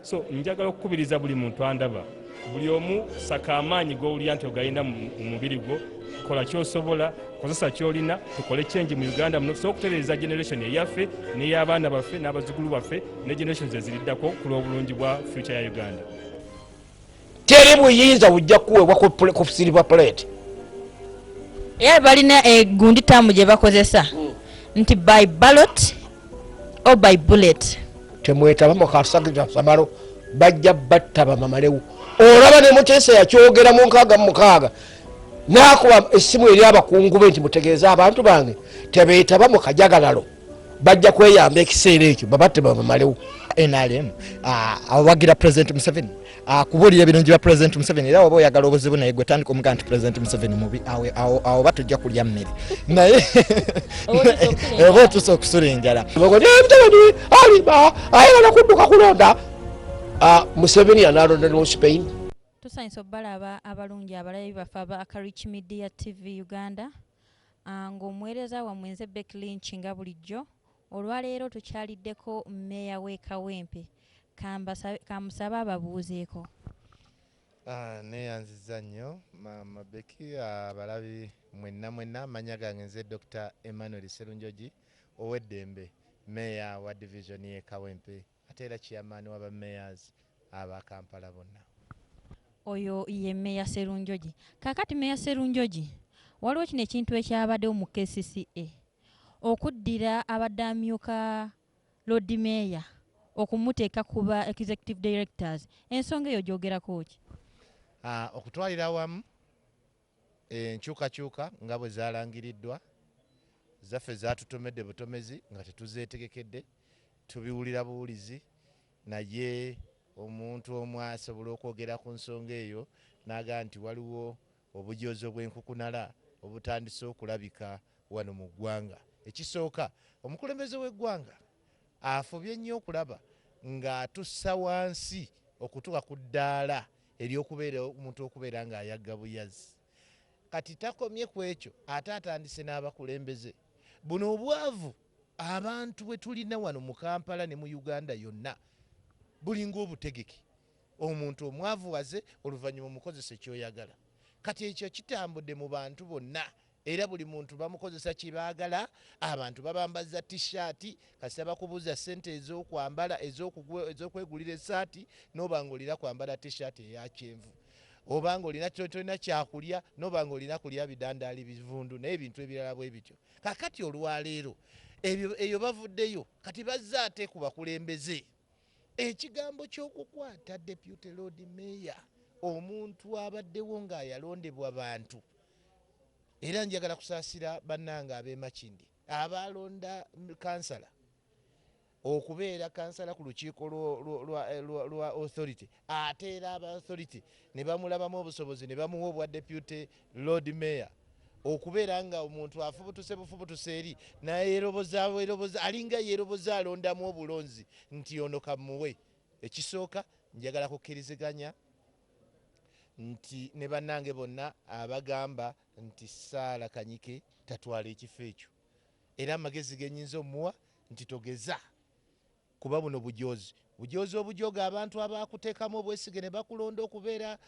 So njagala okukubiriza buli muntu andaba, buli omu saka amaanyi g'owulira nti ogalina mu mubiri gwo, kola ky'osobola, kozesa ky'olina, tukole change mu Uganda muno, tusobola okutereeza generation eyaffe n'ey'abaana baffe n'abazzukulu baffe ne generations eziriddako ku lw'obulungi bwa future ya Uganda. teri buyinza bujja kuweebwa ku silver plate era balina egundi eh, taamu gye bakozesa hmm. nti by ballot o by bullet temwetaba mukasasamalo bajja batta bamamalewo olaba ne muteesa yakyogera mu nkaaga mu mukaaga naakuba essimu eri abakungu be nti mutegeeze abantu bange tebeetaba mu kajagalalo bajja kweyamba ekiseera ekyo babatte babamalewo nrm ah, awagira president museveni ah, kubuulira ebirungi bya president museveni era waba oyagala obuzibu naye gwe tandika omuga nti president museveni mubi awo ba tujja kulya mmere naye oba otusa okusula enjala museveni aliba ayagala kudduka kulonda ah, museveni yanalonda ne spain tusanyisa okubalaba abalungi abalabi baffe aba akarich media tv uganda Nga omuweereza wammwe nze Becky Lynch nga bulijjo, olwaleero tukyaliddeko Mmeeya w'e Kawempe. Ka mbasabe, ka musabe ababuuzeeko. Nneeyanzizza nnyo, Maama Becky. Abalabi mwenna mwenna, amannya gange nze Dokita Emmanuel Sserunjogi Oweddembe, Mmeeya wa Divizoni y'e Kawempe. Ate era chairman wa ba mayors aba Kampala bona. Oyo ye mayor serunjoji. Kakati mayor serunjoji waliwo kino ekintu ekyabadewo mu kcca okuddira abadde amyuka lord mayor okumuteka ku ba executive directors ensonga eyo ogyogerako ki? Aah okutwalira awamu Enkyukakyuka nga bwe zaalangiriddwa zaffe zaatutomedde butomezi nga tetuzeetegekedde, tubiwulira buwulizi naye omuntu omu asobola okwogera ku nsonga eyo n'agamba nti waliwo obujoozi obw'enkukunala obutandise okulabika wano mu ggwanga. Ekisooka, omukulembeze w'eggwanga afubye nnyo okulaba ng'atussa wansi okutuuka ku ddaala ery'okubeera omuntu okubeera ng'ayagga buyazi. Kati takomye ku ekyo ate atandise n'abakulembeze. Buno obwavu abantu bwe tulina wano mu Kampala ne mu Uganda yonna bulinga obutegeke. Omuntu omwavuwaze oluvannyuma omukozese ky'oyagala. Kati ekyo kitambudde mu bantu bonna Era buli muntu bamukozesa kye baagala. Abantu babambazza T-shirt kasita bakubuuza ssente ez'okwambala, ez'okugula, ez'okwegulira essaati n'oba ng'olina kwambala T-shirt eya kyenvu. Oba ng'olina, tolina kyakulya n'oba ng'olina kulya bidandaali, bivundu n'ebintu ebirala bwe bityo. Kaakati olwaleero ebyo, eyo bavuddeyo kati bazze ate ku bakulembeze ekigambo ky'okukwata Deputy Lord Mayor, omuntu abaddewo ng'ayalondebwa bantu. era njagala kusaasira bannange ab'e Makindye abaalonda kansala okubeera kansala ku lukiiko lwa authority ate era aba authority ne bamulabamu obusobozi ne bamuwa obwa deputy lord mayor okubeera nga omuntu afubutuse bufubutuse eri nayerobozaeroboza alinga yeroboza alondamu obulonzi nti ono kamuwe ekisooka njagala kukkiriziganya nti ne bannange bonna abagamba nti Sarah Kanyike tatwala ekifo ekyo era amagezi ge nnyinza omuwa nti togeza kuba buno bujoozi bujoozi obujooga abantu abaakuteekamu obwesige ne bakulonda okubeera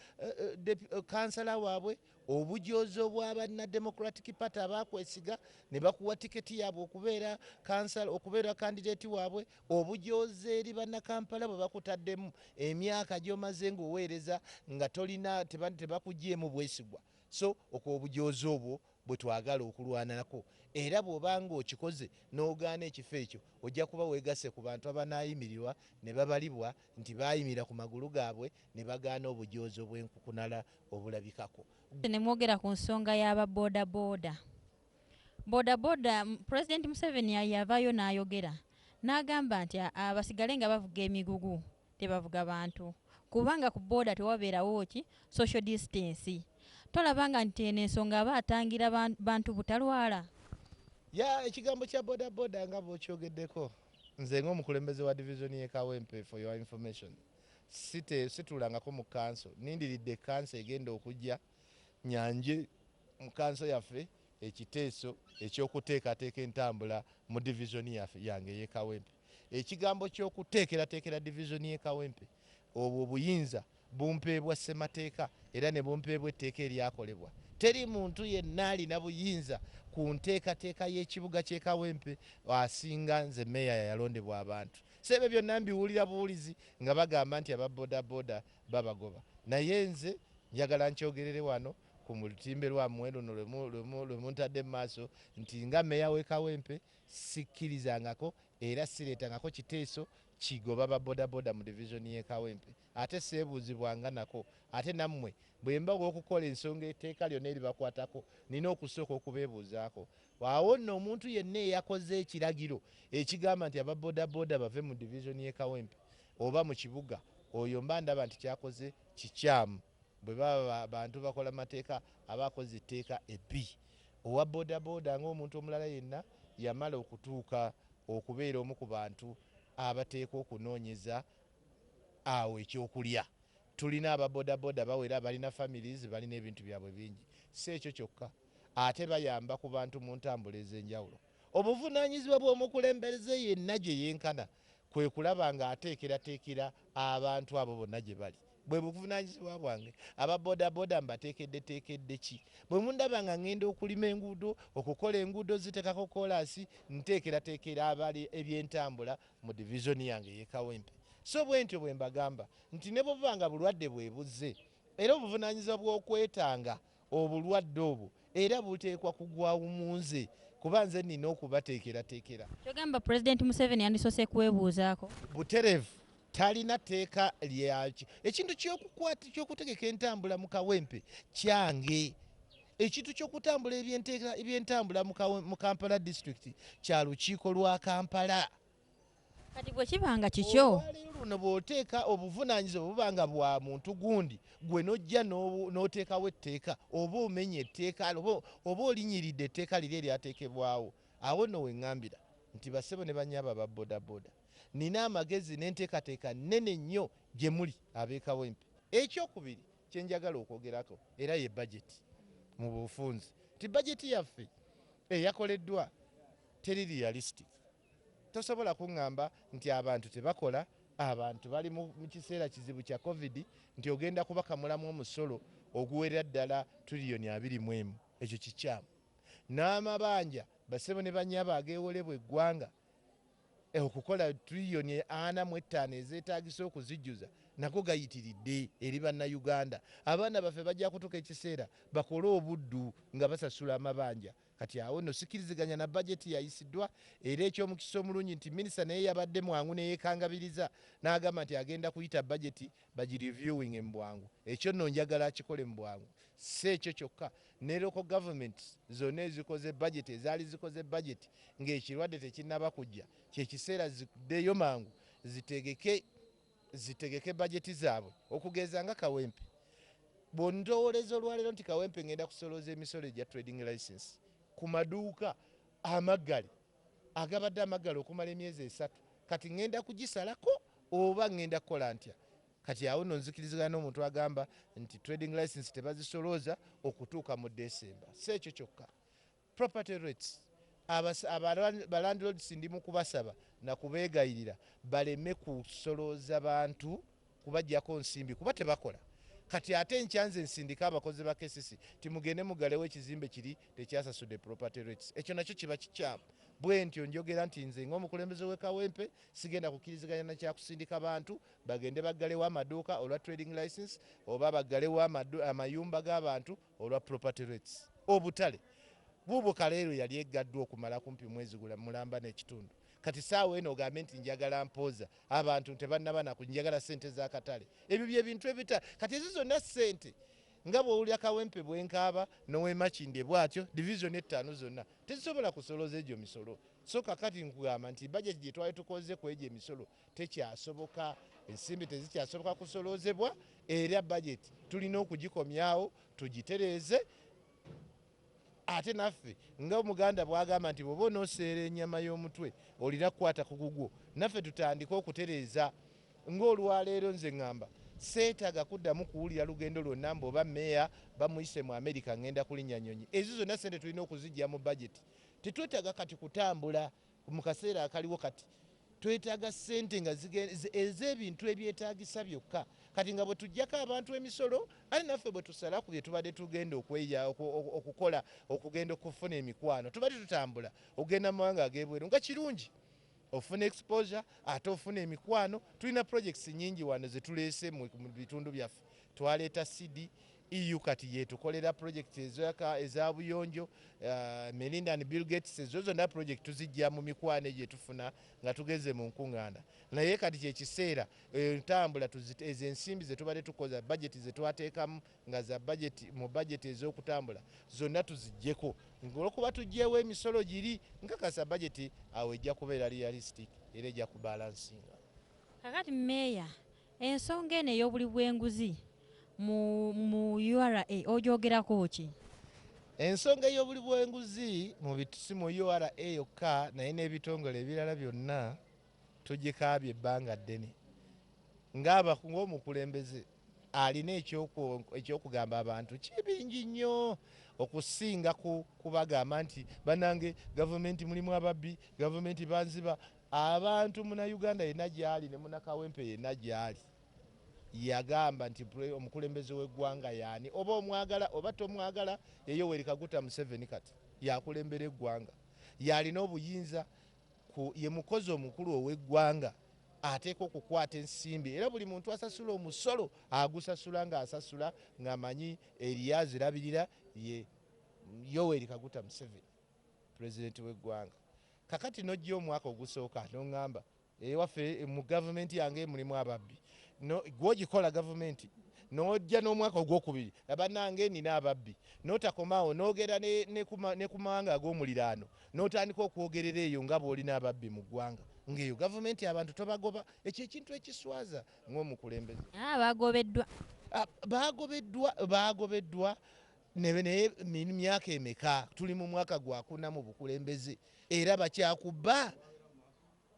kkansala waabwe. Obujoozo bwa banna Democratic Party abaakwesiga ne bakuwa tiketi yaabwe okubeera kansala okubeera kandideeti waabwe, obujoozi eri Bannakampala bwe bakutaddemu, emyaka gy'omaze ng'oweereza nga tolina tebakuggyeemu bwesigwa so okwo obujoozi obwo bwe twagala okulwanako era bw'oba ng'okikoze n'ogaana ekifo ekyo ojja kuba weegasse ku bantu abanaayimirirwa ne babalibwa nti baayimirira ku magulu gaabwe ne bagaana obujoozi obw'enkukunala obulabikako. Ne mwogera ku nsonga y'aba bodaboda. Bodaboda, Pulezidenti Museveni yavaayo n'ayogera n'agamba nti basigale nga bavuga emigugu tebavuga bantu kubanga ku boda tewabeerawo ki social distance. Tolabanga nti eno ensonga aba atangira bantu butalwala? Ya, ekigambo kya bodaboda nga bw'okyogeddeko Nze nga omukulembeze wa division ye Kawempe for your information site situlangako mu kanso nindiridde kanso egenda okujja nyanje mu kanso yaffe ekiteeso ekyokuteekateeka entambula mu division yaffe yange ye Kawempe. Ekigambo kyokuteekerateekera division ye Kawempe obwo obuyinza bumpeebwa ssemateeka era ne bumpeebwa etteeka eryakolebwa. Teri muntu yenna alina buyinza ku nteekateeka y'ekibuga ky'e Kawempe asinga nze Meeya yayalondebwa abantu. So ebyo byonna mbiwulira buwulizi nga bagamba nti aba bodaboda babagoba naye nze njagala nkyogerere wano ku lutimbe lwammwe luno lwe muntadde mu maaso nti nga Meeya w'e Kawempe sikkirizangako Era sireetangako kiteeso kigoba ba bodaboda mu Division y'e Kawempe ate seebuuzibwanga nako. Ate nammwe bwe mba ow'okukola ensonga etteeka lyonna eribakwatako nnina okusooka okubeebuuzaako. Awo nno omuntu yenna eyakoze ekiragiro ekigamba nti aba bodaboda bave mu Division y'e Kawempe oba mu kibuga, oyo mba ndaba nti ky'akoze kikyamu. Bwe baba bantu bakola mateeka aba akoze etteeka ebbi. Owa bodaboda ng'omuntu omulala yenna yamala okutuuka okubeera omu ku bantu abateekwa okunoonyeza awo ekyokulya. Tulina aba bodaboda bawera, balina families, balina ebintu byabwe bingi. Si ekyo kyokka, ate bayamba ku bantu mu ntambula ez'enjawulo. Obuvunaanyizibwa bw'omukulembeze yenna gye yenkana kwe kulaba ng'ateekerateekera abantu abo bonna gye bali. Bwe buvunaanyizibwa bwange. Aba bodaboda mbateekeddeteekedde ki? Bwe mundaba nga ng'enda okulima enguudo, okukola enguudo, oziteekako kkoolaasi, nteekerateekera aba ebyentambula mu divizoni yange ey'e Kawempe. So bwe ntyo bwe mbagamba nti ne bwe buba nga bulwadde bwe buzze era obuvunaanyizibwa bw'okwetanga Obulwadde obwo era buteekwa kugwawu mu nze kuba nze nnina okubateekerateekera. Ky'ogamba Pulezidenti Museveni yandisoose kwebuuzaako? Butereevu talina tteeka lya. Ekintu ky'okutegeka entambula mu Kawempe kyange. Ekintu ky'okutambula ebyentambula mu Kampala disitulikiti kya lukiiko lwa Kampala. Kati bwe kiba nga kikyo. Olwaleero luno bw'oteeka obuvunaanyizibwa buba nga bwa muntu gundi, ggwe n'ojja n'oteekawo etteeka, oba omenye etteeka, oba olinyiridde etteeka liri eryateekebwawo. Awo nno we ŋŋambira nti bassebo ne bannyabo aba bodaboda, nnina amagezi n'enteekateeka nnene nnyo gye muli ab'e Kawempe. Ekyokubiri kye njagala okwogerako era ye bajeti mu bufunzi, nti bajeti yaffe eyakoleddwa teri realistic. Tosobola kungamba nti abantu tebakola, abantu bali mu kiseera kizibu kya covid nti ogenda kubakamulamu omusolo oguwerera ddala tuliyoni abiri mu emu. Ekyo kikyamu. N'amabanja bassebo ne bannyabo ageewolebwa eggwanga okukola tuliyoni ana mu ettaano ezeetaagisa okuzijjuza nago gayitiridde eri Bannayuganda. Abaana baffe bajja kutuka ekiseera bakole obuddu nga basasula amabanja. Kati awo nno sikiriziganya na budget eyayisiddwa era ekyomukisa omulungi nti minister naye yabadde mwangu neyekangabiriza nagamba nti agenda kuyita budget bagi reviewinge mu bwangu. Ekyo nno njagala akikole mu bwangu. Ssi ekyo kyokka, ne local governments zonna ezikoze budget, ezaali zikoze budget nga ekirwadde tekinnaba kujja, kyekiseera ziddeyo mangu zitegeke. zitegeke bajeti zaabwe okugeeza nga Kawempe. Bw'ondowooleza olwaleero nti Kawempe ngenda kusolooza emisolo egya trading licence ku maduuka amaggale agabadde amaggale okumala emyezi esatu kati ngenda kugisalako oba ngenda kukola ntya? Kati awo nno nzikirizigana n'omuntu agamba nti trading licence tebazisolooza okutuuka mu December. Si ekyo kyokka. Property rates, abas, aba, ba landlords ndi mukubasaba na kubegayirira baleme kusolooza bantu kubajjako nsimbi kuba tebakola kati ate enkya nze nsindike abakozi ba KCC nti mugende mugalewo ekizimbe kiri tekyasasude property rates ekyo nakyo kiba kikyamu bwentyo njogera nti nze nga omukulembeze we Kawempe sigenda kukiriziganya na kyakusindika bantu bagende baggalewo amaduuka olwa trading license oba baggalewo amayumba g'abantu olwa property rates obutale buubwo kaleero yali eggaddwa okumala kumpi mwezi gula mulamba n'ekitundu kati saawa eno ogambe nti njagala mpooza abantu ntebannaba naku njagala sente z'akatale ebyo bye bintu ebita kati ezo zonna sente nga bwowulira kawempe bwenkaaba nowemakinde bwatyo division ettaano zonna tezisobola kusoloza egyo misolo so kakati nkugamba nti bajeti gyetwali tukoze ku egyo emisolo tekyasoboka, ensimbi tezikyasoboka kusoloozebwa era bajeti tulina okugikomyawo tugitereeze ate naffe nga omuganda bwagamba nti bwoba onoseera enyama y'omutwe olina kukwata ku gugwo naffe tutandike okutereeza ng'olwaleero nze ŋŋamba seetaaga kuddamu kuwulira lugendo lwonna mbu oba meeya bamuyise mu amerika ŋŋenda kulinnya nyonyi ezo zonna sente tulina okuzijja mu bajeti tetwetaaga kati kutambula Mu kaseera akaliwo kati, twetaaga ssente nga ez'ebintu ebyetaagisa byokka. Kati nga bwe tuggyako abantu emisolo, ate naffe bwe tusala ku bye tubadde tugenda okukola okugenda okufuna emikwano, tubadde tutambula okugenda mu mawanga ag'ebweru nga kirungi ofuna exposure ate ofuna emikwano. Tulina projects nnyingi wano ze tuleese mu bitundu byaffe. Twaleeta CD EU kati yetukolera project ezoyaka eza buyonjo uh, Melinda and Bill Gates ezo zonna project tuzijja mu mikwano egyo etufuna nga tugeze mu nkung'aana naye kati kyekiseera entambula eh, ezo ensimbi zetubadde tukoza bajeti zetwateekamu nga za bajeti mu bajeti ez'okutambula zonna tuzijjeko olwokuba tujjeewo emisolo giri nkakasa bajeti awo ejja kubeera realistic era ejja kubalansinga kakati meeya Ensonga eno ey'obuli bw'enguzi mu mu ura ogyogerako ki? Ensonga ey'obuli bw'enguzi mu bit si mu ura yokka naye n'ebitongole ebirala byonna tugikaabye ebbanga ddene nga ng'omukulembeze alina eky'okwo eky'okugamba abantu kibingi nnyo okusinga ku kubagamba nti bannange gavumenti mulimu ababbi, gavumenti banziba, Abantu muna Uganda yena gyali ne muna Kawempe yena gyali yagamba nti omukulembeze we gwanga yani oba omwagala oba tomwagala ye Yoweri Kaguta Museveni kati yakulembera egwanga yalina obuyinza ku ye mukozi omukulu owe gwanga ateeka okukwata ensimbi era buli muntu asasula omusolo agusasula nga asasula nga manyi eriya zirabirira ye Yoweri Kaguta Museveni. president wegwanga kakati nojja omwaka ogusooka nongamba ewaffe mu government yange mulimu ababbi no, gwojikola government nojja nomwaka ogwokubiri abanange nina ababbi notakomawo nogera ne, ne, kuma, ne kumawanga agomuliraano notandika okwogerera eyo nga bwolina ababbi mu gwanga ngeyo government abantu tobagoba ekyo ekintu ekiswaza ngomukulembeze ah, bagobeddwa ah, bagobeddwa bagobeddwa Nebe naye min myaka emeka tuli mu mwaka gwakuna mu bukulembeze era bakyakubba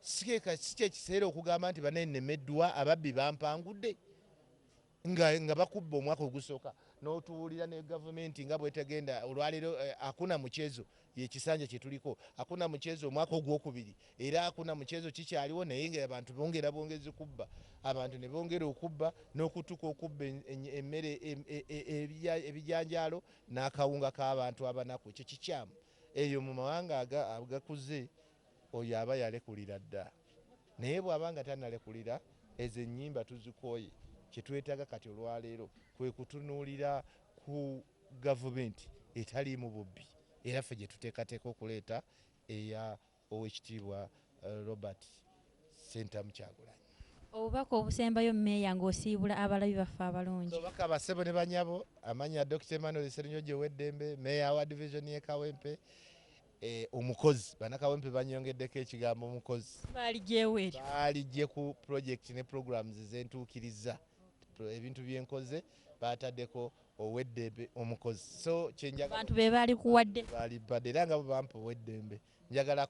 sikyekiseera okugamba nti banaye nemeddwa ababbi bampangudde nga, nga bakubba omwaka ogusooka n'otuwulira ne gavumenti nga bwetegenda olwaleero eh, akuna mukyezo ye kisanja kyetuliko akuna muchezo omwaka ogwokubiri era akuna muchezo kikyaliwo naye nga abantu bongera bwongezi kubba abantu nebongera okubba nokutuka okubba emmere ebijanjaalo nakawunga kabantu abanaku ekyo kikyamu eyo mumawanga agakuze oyo aba yalekulira dda naye bwaba nga tanalekulira ezo enyimba tuzikoye kyetwetaga kati olwaleero kwekutunulira ku Gavumenti etaliimu bubbi era ffe gye tuteekateeka okuleeta eya Oweekitiibwa Robert Ssentamu Kyagulanyi. Obubaka obusembayo Meeya ng'osiibula abalabi baffe abalungi. Kabaka, bassebo ne banyabo, amannya Dokita Emmanuel Sserunjogi Ow'eddembe, Meeya wa Divizoni y'e Kawempe. E, omukozi. Bannakawempe bannyongeddeko ekigambo omukozi. Baaliggye wa eryo? Baaliggye ku pulojekiti ne pulogulaamu ze ntuukiriza. Ebintu bye nkoze baataddeko oweddembe omukozi so kyenjabantu bebalikuwadde balibade era nga bo bampa oweddembe njagala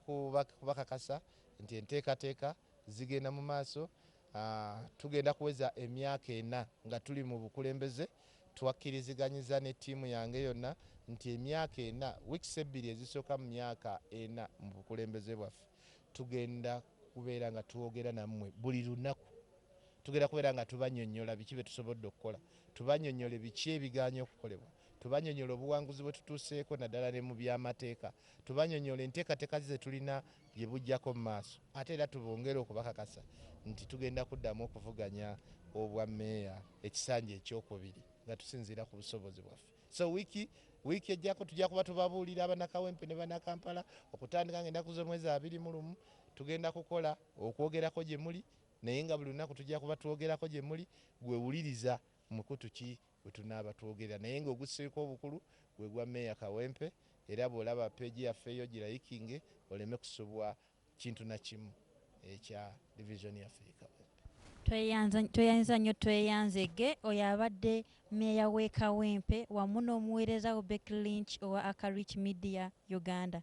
kubakakasa nti enteekateeka zigenda mu maaso ah, tugenda kuweza emyaka ena nga tuli mu bukulembeze twakkiriziganyiza ne ttiimu yange yonna nti emyaka ena wiks ebbiri ezisooka mu myaka ena mu bukulembeze bwaffe tugenda kubeera nga twogera nammwe buli lunaku tugenda kubeera nga tubanyonyola biki bye tusobodde okukola Tubanyonyole biki ebigaanye okukolebwa, tubanyonyole obuwanguzi bwetutuuseeko naddala ne mu by'amateeka, tubanyonyole enteekateka zetulina bye bujjako mu maaso ate era tubongere okubakakasa nti tugenda kuddamu okuvuganya obwa Mayor ekisanja eky'okubiri nga tusinziira ku busobozi bwaffe so wiiki wiiki ejjako tujja kuba tubabuulira abanakawempe ne banakampala okutandika nga ennaku z'omwezi abiri mu lumu tugenda kukola okwogerako gye muli Naye nga buli lunaku tujja kuba twogerako gye muli, ggwe wuliriza mukutu ki we tunaaba twogerera. Naye nga ogusseeko obukulu gwe gwa Mayor Kawempe era bw'olaba page yaffe eyo girayikinge oleme kusubwa kintu na kimu ekya Division yaffe ye Kawempe. Tweyanza tweyanza nnyo Tweyanzege oyo abadde Mayor w'e Kawempe wamu n'omuweereza we Becky Lynch owa Aka Reach Media Uganda.